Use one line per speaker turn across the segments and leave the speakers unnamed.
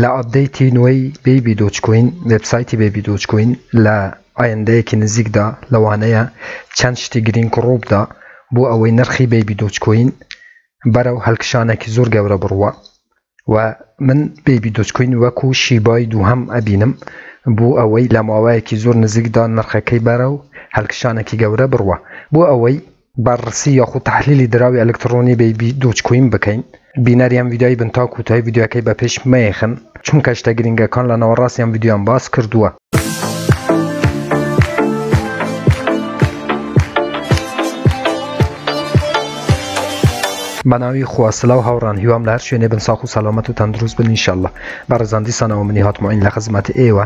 لە ئەپدەیتی نوێی بەیبی دۆجکۆین، وێبسایتی بەیبی دۆجکۆین لە ئایندەیەکی نزیکدا لەوانەیە چەند شتی گرینگ ڕووبدا بۆ ئەوەی نرخی بەیبی دۆجکۆین بەرەو هەلکشانێکی زۆر گەورە بڕوا و من بەیبی دۆجکۆین وەکو شیبای دووهەم ئەبینم بۆ ئەوەی لە ماوەیەکی زۆر نزیکدا نرخەکەی بەرەو هەلکشانێکی گەورە بڕوا بۆ ئەوەی بەررسی یاخود تەحلیلی دراوی ئەلکتڕۆنی بی بی دۆجکۆین بکەین بینەری ئەم ڤیدیۆیە بن تا کوتایی ڤیدیۆیەکەی بە پێش مەیەخن چونکە شتە گرینگەکان لە ناوەڕاستی ئەم ڤیدیۆیەم باس کردووە. بەناوی خوا سلاو هاوڕان هیوام لە هەر شوێنێ بن ساخ و سەلامەت و تەندروست بن انشاللە بەڕێزان دیسانەوە منی هاتمۆین لە خزمەت ئێوە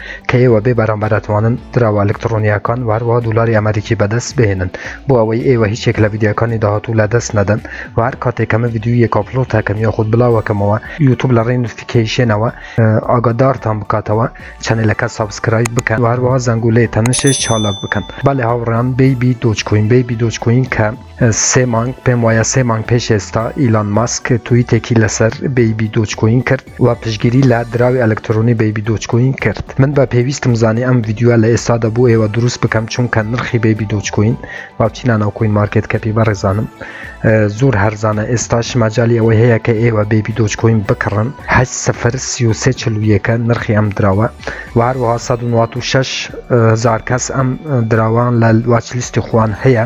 کە ئێوە بێ بەرامبەر ئەتوانن دراوە ئەلکتڕۆنیاکان و هەروەها دولاری ئەمەریکی بەدەست بهێنن بۆ ئەوەی ئێوە هیچێک لە ڤیدیوەکانی داهاتوو لە دەست نەدەن و هەر کاتێک کەمە ڤیدیویەک ئاپلۆد تاکەم یاخود بڵاوەکەمەوە یوتوب لە ڕێی نوتفیکەیشێنەوە ئاگادارتان بکاتەوە چەنەلەکە سابسکرایب بکەن و هەروەها زەنگولەی تەنشش چالاک بکەن بەڵێ هاوڕێیان بەیبی دۆج کوین بەیبی دۆج کوین کە سێ مانگ پێم وایە سێ مانگ پێش ئێستا ئیلان ماسک تویتێکی لەسەر بەیبی دۆچکۆین کرد و پشگیری لە دراوی ئەلکترۆنی بەیبی دۆچکۆین کرد من بە پێویستم زانی ئەم یددیوە لە ئێستا دەبوو ئێوە دروست بکەم چونکە نرخی بەیبی دۆچکۆین باوچینا ناوکۆین مارکت کەپی بەڕێزانم زۆر هەرزانە ئێستا شماجای ئەوەی هەیە کە ئێوە بەیبی دۆچکۆین بکڕن هە سفر سیوسێ چلویەکە نرخی ئەم دراوە و هەروەها 1960 هزار کەس ئەم دراوان لە واچلیستی خوان هەیە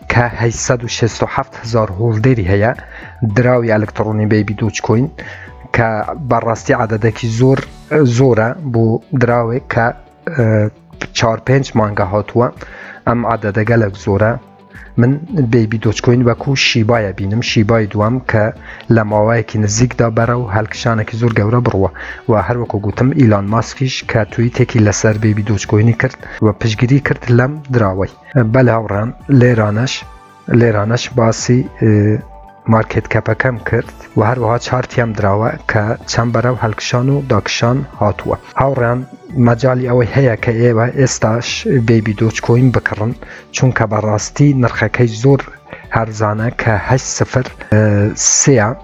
کە هەشت سەد و شەست و حەفت هەزار هۆڵدەری هەیە دراوی ئەلکتڕۆنی بەیبی دۆچکۆین کە بەڕاستی عادەدەکی زۆر زۆرە بۆ دراوێک کە چهار پێنج مانگە هاتووە ئەم عادەدەگەلک زۆرە من بەیبی دۆچکۆین وەکو شیبایە بینم شیبای دوام کە لە ماوەیەکی نزیکدا بەرە و هەلکشانێکی زۆر گەورە بڕوە و هەروەکو گوتم ئیلان ماسکیش کە توی تێکی لەسەر بەیبی دۆچکۆینی کرد و پشگیری کرد لەم دراوەی بەلێ هاوڕام لێرانەش لێرانەش باسی مارکت کەپەکەم کرد و هەروەها چارتیام دراوە کە چەند بەرەو هەلکشان و داکشان هاتووە هاوڕیان مەجای ئەوەی هەیە کە ئێوە ئێستاش بێبی دۆچکۆین بکڕن چونکە بەڕاستی نرخەکەی زۆر هەرزانە کە هەش سفر سێە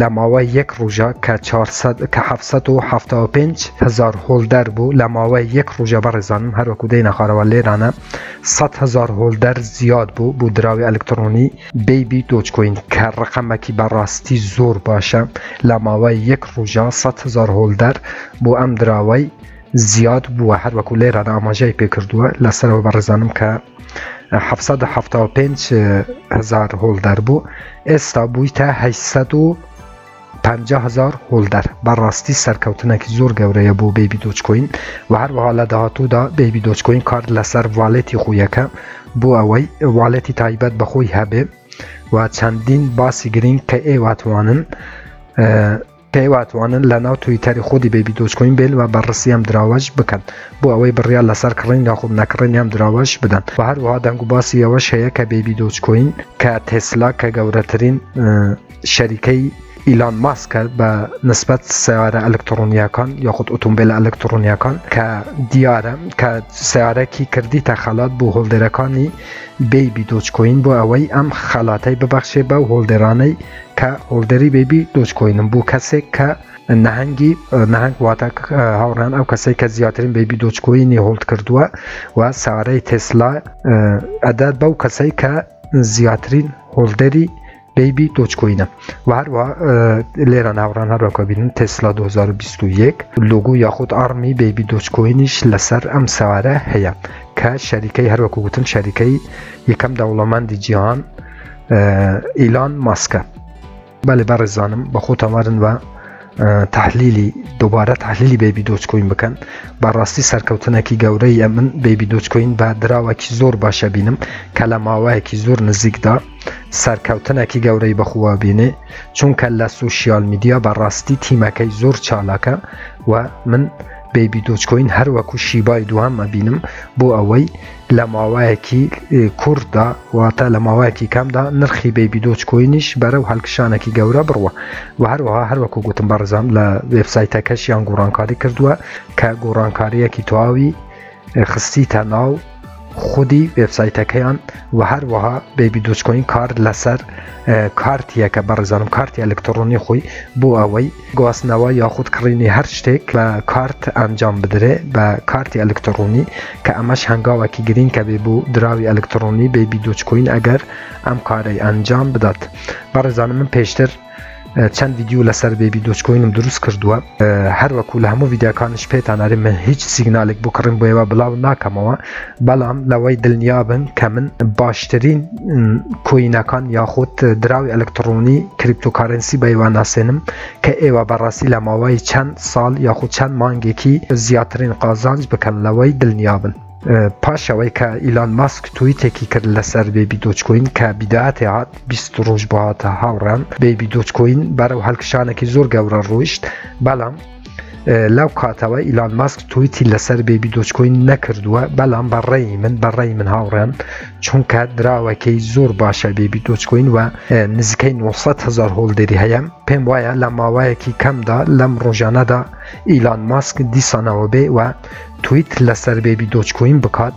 لە ماوەی یەک ڕژە کە کە 1970 هزار هۆلدەر بوو لە ماوەی یەک ڕژە بەڕێزانم هەروەکو دەی نەخارەوە لێرانە 100 هزار هۆلدەر زیاد بوو بوو دراوی ئەلکترۆنی بیبی دۆچکۆین کە ڕقەمەکی بەڕاستی زۆر باشە لە ماوەی یەک ڕژە 100 هزار هۆلدەر بۆ ئەم دراوەی زیاد بووە هەروەکو لێران ئاماژای پێکردووە لە سەرەوە بەڕێزانم کە 1970 هزار هۆڵ دەربوو ئێستا بووی تا 500هزار هۆڵ دەر بەڕاستی سەرکەوتنێکی زۆر گەورەیە بۆ بێبی دۆچکۆین و هەروەها لە داهاتوودا بێبی دۆچکۆین کارد لەسەر والێتی خۆیەکە بۆ ئەوەی والێتی تایبەت بەخۆی هەبێ و چەندین باسی گرنگ کە ئێواتوانن پێی واتوانن لە ناو تویتەری خودی بەیبی دۆجکۆین بێن و بەڕستی ئەم دراوەش بکەن بۆ ئەوەی بڕیار لەسەر کڕین یاخود نەکڕینی ئەم دراوەش بدەن و هەروەها دەنگوباسی ئەوەش هەیە کە بەیبی دۆجکۆین کە تێسلا کە گەورەترین شەریکەی ئیلان ماسکە بە نسبەت سیارە ئەلکترۆنیەکان یاخود ئۆتۆمبیل ئەلکترۆنیەکان کە دیارە کە سیارەکی کردیتە خەلات بۆ هۆڵدەرەکانی بەیبی دۆچکۆین بۆ ئەوەی ئەم خەلاتەی ببەخشێ بە هۆڵدەرانەی کە هۆڵدەری بەیبی دۆج کۆینم بۆ کەسێک کە نەهەنگی نەهنگ واتە هاوڕان ئەو کەسێک کە زیاترین بەیبی دۆچکۆینی هۆڵد کردووە و سارەی تسلا ئەدات بەو کەسەی کە زیاترین هۆڵدەری بەیبی دۆچکۆینە و هەروە لێرە ناوڕان هەروەکە بینن تسلا 2021 لوگو یاخود ئاڕمی بەیبی دۆچکۆینیش لەسەر ئەم سارە هەیە کە شەریکەی هەروەکو گوتم شەریکەی یەکەم دەوڵەمەندی جیهان ئیلان ماسکە بەێ بەڕێزانم بە خۆ تەوارن بە تحلیلی دووبارە تحلیلی بەبی دۆچکۆین بکەن بەڕاستی سەرکەوتنێکی گەورەیە من بەبی دۆچکۆین بە دراوەکی زۆر باشە بینم کە لە ماوەیەکی زۆر نزیکدا سەرکەوتنێکی گەورەی بەخوا بینێ چونکە لە سوسیال میدیا بەڕاستی تیمەکەی زۆر چالاکە و من بەبی دۆچکۆین هەروەکو شیبای دوام مەبینم بۆ ئەوەی لە ماوەیەکی کورتدا واتە لە ماوەیەکی کەمدا نرخی بەیبی دۆچ کۆینیش بەرەو هەلکشانێکی گەورە بڕوە و هەروەها هەروەکو گوتم بەڕزام لە وێبسایتەکەشیان گۆڕانکاری کردووە کە گۆڕانکاریەکی تەواوی خستی تەناو خودی وێبسایتەکەیان و هەروەها بەیبی دۆچکۆین کار لەسەر کارتیەکە بەڕزانم کارتی ئەلکترۆنی خۆی بۆ ئەوەی گواستنەوە یاخود کڕینی هەر شتێک بە کارت ئەنجام بدرێ بە کارتی ئەلکترۆنی کە ئەمەش هەنگاوەکی گرینکە بێ بۆ دراوی ئەلکترۆنی بەیبی دۆجکۆین ئەگەر ئەم کارەی ئەنجام بدات بەڕێزانم من پێشتر چەند ویددیو لەسەر بێبی دۆچکۆینم دروست کردووە هەروەکو لە هەموو ویددیاکانش پێتاناری من هیچ سیگنالێک بۆ کڕین بۆیەوە بڵاو ناکەمەوە بەڵام لەوەی دلنیابن کە من باشترین کوینەکان یاخود دراوی ئەلکتڕۆنی کریپتۆکارنسی بەیوان ناسێنم کە ئێوە بەڕاستی لە ماوەی چەند ساڵ یاخود چەند مانگێکی زیاترین قازانج بکەن لەوەی دلنیابن. پاشەوەی کە ئیلان ماسک تویتێکی کرد لەسەر بێبی دۆچکۆین کە بیداتی هات بیست ڕۆژ بۆ هاتە هاوڕان بێبی دۆچکۆین بەرەو هەلکشانێکی زۆر گەورە ڕۆیشت بەڵام لەو کاتەوە ئیلان ماسک تویتی لەسەر بێبی دۆچکۆین نەکردووە بەڵام بەڕێی من بەڕێی من هاوڕێن چونکە دراوەکەی زۆر باشە بێبی دۆچکۆین وە نزیکەی 900 هزار هۆڵدەری هەیە پێم وایە لە ماوایەکی کەمدا لەم ڕۆژانەدا ئیلان ماسک دیسانەوە بێ وە تویت لەسەر بێبی دۆچکۆین بکات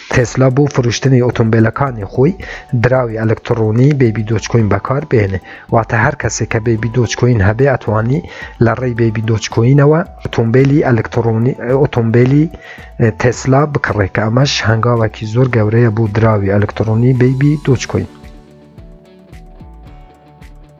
تێسلا بۆ فروشتنی ئۆتۆمبێلەکانی خۆی دراوی ئەلکتڕۆنی بێبی دۆچکۆین بەکار بێنێ واتە هەر کەسێک کە بێبی دۆچکۆین هەبێ ئەتوانی لە ڕێی بێبی دۆچکۆینەوە ئۆتۆمبیلی ئەلکتڕۆنی ئۆتۆمبیلی تێسلا بکڕێ کە ئەمەش هەنگاوێکی زۆر گەورەیە بۆ دراوی ئەلکتڕۆنی بێبی دۆچکۆین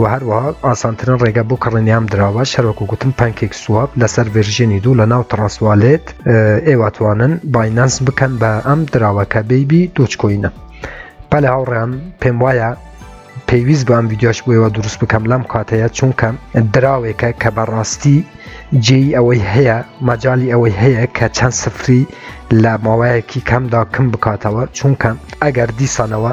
و هەروەها ئاسانترین ڕێگە بۆ کڕنیام دراوە شەرۆکو گوتم پانکێک سواب لەسەر ڤێرژێنی دوو لە ناو تڕاسوالێت ئێواتوانن باینەنس بکەن بە ئەم دراوەکە بەیبی دۆچکۆینە پەل هاوڕێیان پێم وایە پێویست بەم ویددیوش بۆەوە دروست بکەم لەم کاتەیە چونکە دراوێکە کە بەڕاستی جێی ئەوەی هەیە مەجای ئەوەی هەیە کە چەند سفری لە ماوەیەکی کەمدا کم بکاتەوە چونکە ئەگەر دیسانەوە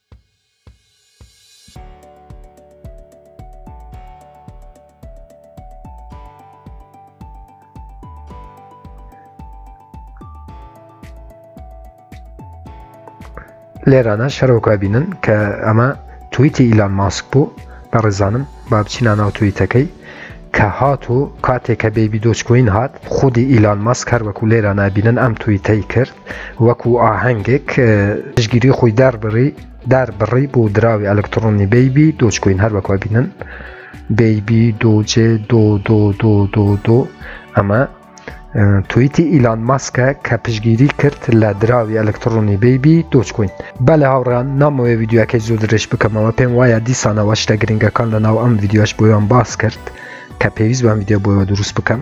لێرانە شەرۆکە بینن کە ئەمە تویتی ئیلان ماسک بوو بە ڕێزانم با بچینە ناو تویتەکەی کە هات و کاتێک کە بێبی دۆچکوین هات خودی ئیلان ماسک هەر وەکو لێرە نابینن ئەم تویتەی کرد وەکو ئاهەنگێک پشگیری خۆی داربڕی داربڕی بۆ دراوی ئەلکترۆنی بەیبی دۆچکوین هەر وەکو بینن بەیبی دۆجێ دۆ دۆ دۆ دۆ دۆ ئەمە تویتی ئیلان ماسکە کە پشگیری کرد لە دراوی ئەلکترۆنی بەیبی دۆچکوین بە لە هاوڕان نامەوەی ویددیوەکەی زۆر درێژ بکەمەوە پێم وایە دیسانەوە شتە گرنگەکان لە ناو ئەم ویددیوش بۆیان باس کرد کە پێویست بەم ویددیو بۆەوە دروست بکەم